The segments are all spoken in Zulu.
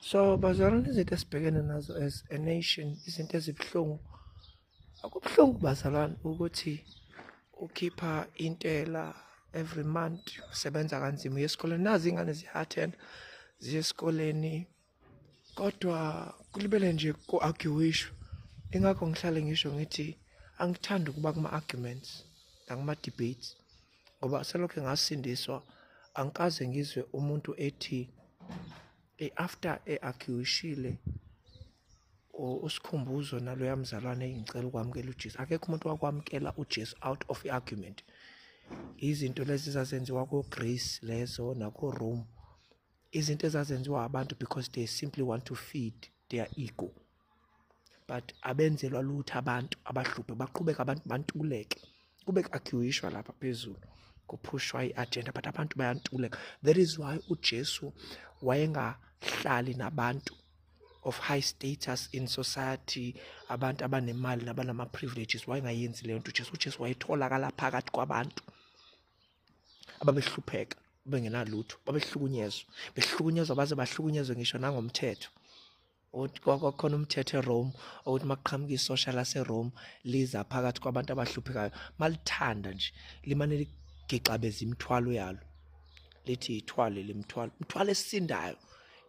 so bazalwane izinto esibhekene nazo as a nation izinto ezibuhlungu akubuhlungu bazalwane ukuthi ukhipha intela every month usebenza kanzima uye esikoleni nazi ingane ziyathenda ziye esikoleni kodwa kulibele nje ku-arguishwa ingakho ngihlale ngisho ngithi angithandi ukuba kuma-arguments nakuma-debates ngoba selokhu ngasindiswa angikaze ngizwe umuntu ethi after eakhishile usikhumbuzo naloya mzalwane engicela ukwamukela uJesu akekho umuntu wakwamukela uJesu out of argument izinto lezi zazenziwa ko Greece lezo nako Rome izinto ezazenziwa abantu because they simply want to feed their ego but abenzelwa lutho abantu abahluphe baqhubeka abantu bantuleke kube ku-arguishwa lapha phezulu kuphushwa i-agenda but abantu bayantuleka that is why ujesu wayengahlali nabantu of high status in society abantu abanemali nabanama-privileges wayengayenzi leyo nto ujesu ujesu wayetholakala phakathi kwabantu ababehlupheka bengenalutho babehlukunyezwa behlukunyezwa baze bahlukunyezwe ngisho nangomthetho ukuthi kwakhona umthetho eRome ukuthi makuqhamuka isosha laseRome liza phakathi kwabantu abahluphekayo malithanda nje limane ligixabeza imithwalo yalo lithi ithwale lemthwalo umthwalo esindayo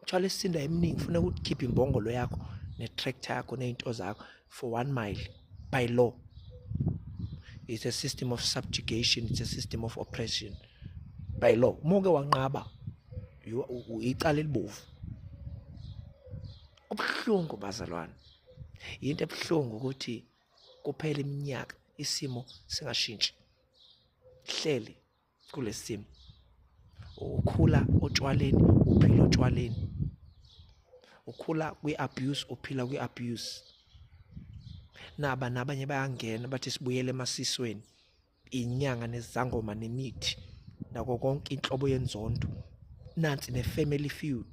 imthwalo esindayo eminingi ufuna ukukhipha imbongolo yakho netractor yakho nezinto zakho for one mile by law it's a system of subjugation it's a system of oppression by law uma uke wanqaba icala elibovu kubuhlungu bazalwane yinto ebuhlungu ukuthi kuphela iminyaka isimo singashintshi hleli kulesi simo ukhula otshwaleni uphila otshwaleni ukhula kwi-abuse uphila kwi-abuse naba nabanye bayangena bathi sibuyele emasisweni inyanga nezangoma nemithi nako konke inhlobo yenzondo nansi ne-family feud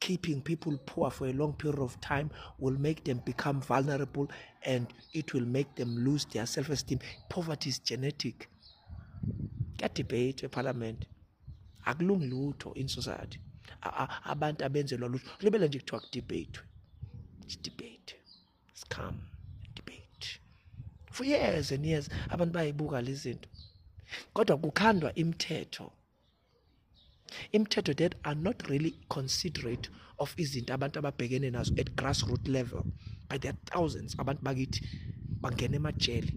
keeping people poor for a long period of time will make them become vulnerable and it will make them lose their self-esteem poverty is genetic kuyadebate ephalamende akulungi lutho in society abantu abenzelwa lutho libele nje kuthiwa kudebate debate scam debate for years and years abantu bayibuka lezi zinto kodwa kukhandwa imithetho imithetho that are not really considerate of izinto abantu ababhekene nazo at grassroot level by the thousands abantu bakithi bangena emajele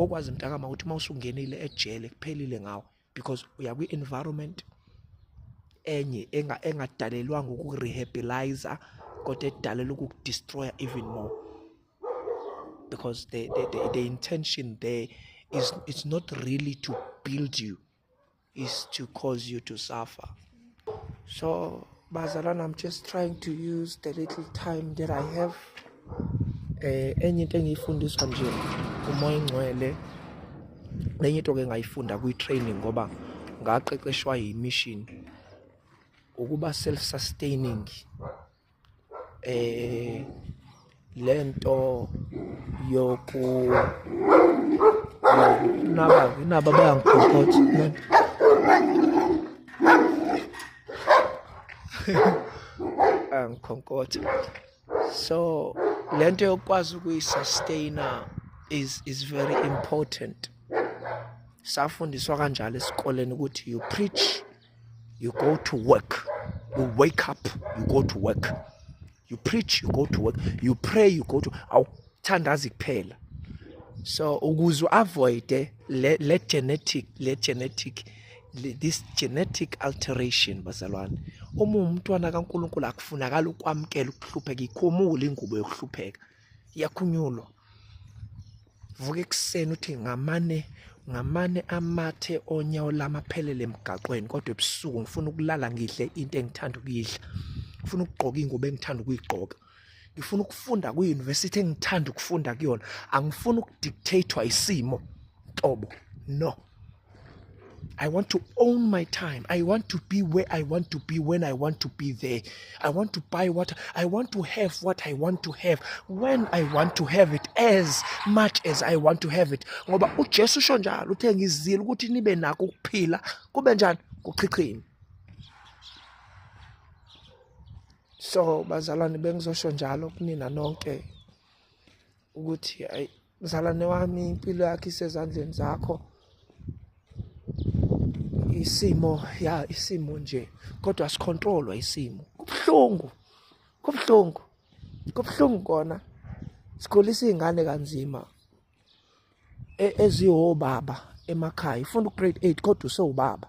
okwazi mntakama ukuthi uma usungenile ejele kuphelile ngawo because uya kwi-environment enye engadalelwanga ukurehabiliza kodwa edalelwa ukukudestroya even more because the, the, the, the intention there is it's not really to build you is to cause you to suffer so bazalan i'm just trying to use the little time that i have eh enye into engiyifundiswa nje umoya ingcwele enye into ke ngayifunda kwi training ngoba ngaqeqeshwa yi mission ukuba self sustaining eh lento yoku naba naba bayangikhokhotha angikhonkotha so lento yokwazi ukuyisustaina is is very important safundiswa kanjalo esikoleni ukuthi you preach you go to work you wake up you go to work you preach you go to work you pray you go to awuthandazi kuphela so ukuze uavoide le, le genetic le genetic le, this genetic alteration bazalwane uma umntwana kaNkuluNkulu akufunakala ukwamkela ukuhlupheka ikhumule ingubo yokuhlupheka yakhunyulwa vuka ekuseni uthi ngamane ngamane amathe onyawo lami aphelele emgaqweni kodwa ebusuku ngifuna ukulala ngidle into engithanda ukuyidla ngifuna ukugqoka ingubo engithanda ukuyigqoka ngifuna ukufunda kwi-university engithanda ukufunda kuyona angifuni ukudictatwa isimo tobo no I want to own my time. I want to be where I want to be when I want to be there. I want to buy what I want to have what I want to have when I want to have it as much as I want to have it. Ngoba uJesu usho njalo uthe ngizile ukuthi nibe nako ukuphila kube njani kuchichini. So bazalwane bengizosho njalo kunina nonke ukuthi mzalwane wami impilo yakhe isezandleni zakho isimo ya isimo nje kodwa sicontrolwa isimo kubhlungu kubhlungu kubhlungu kona sikhulisa izingane kanzima e, ezihobaba emakhaya ufuna ugrade 8 kodwa usewubaba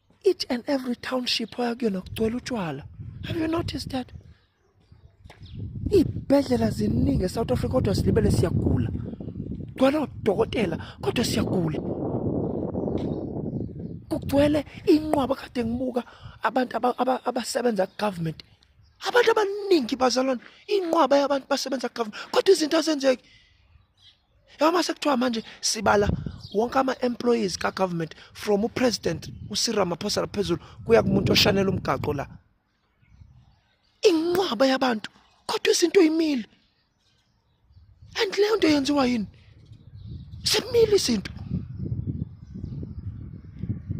each and every township oya kuyona kugcwele utshwala have you noticed that iy'bhedlela ziningi esouth africa kodwa silibele siyagula kugcwele odokotela kodwa siyagula kugcwele inqwaba kade ngibuka abantu abasebenza kugovernment abantu abaningi bazalwane inqwaba yabantu basebenza kugovernment kodwa izinto azenzeki yabo mase kuthiwa manje sibala wonke ama-employees ka-government from upresident usiramaphosa laphezulu kuya kumuntu oshanela umgaqo la inqwaba yabantu kodwa izinto imile and leyo nto yenziwa yini semile izinto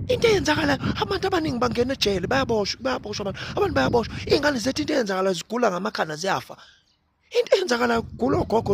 into eyenzakalayo abantu abaningi bangena ejele bayaboshwa bayaboshwa abantu abantu bayaboshwa iy'ngane zethu into eyenzakalayo zigula ngamakhanda ziyafa into eyenzakalayo kugula ogogo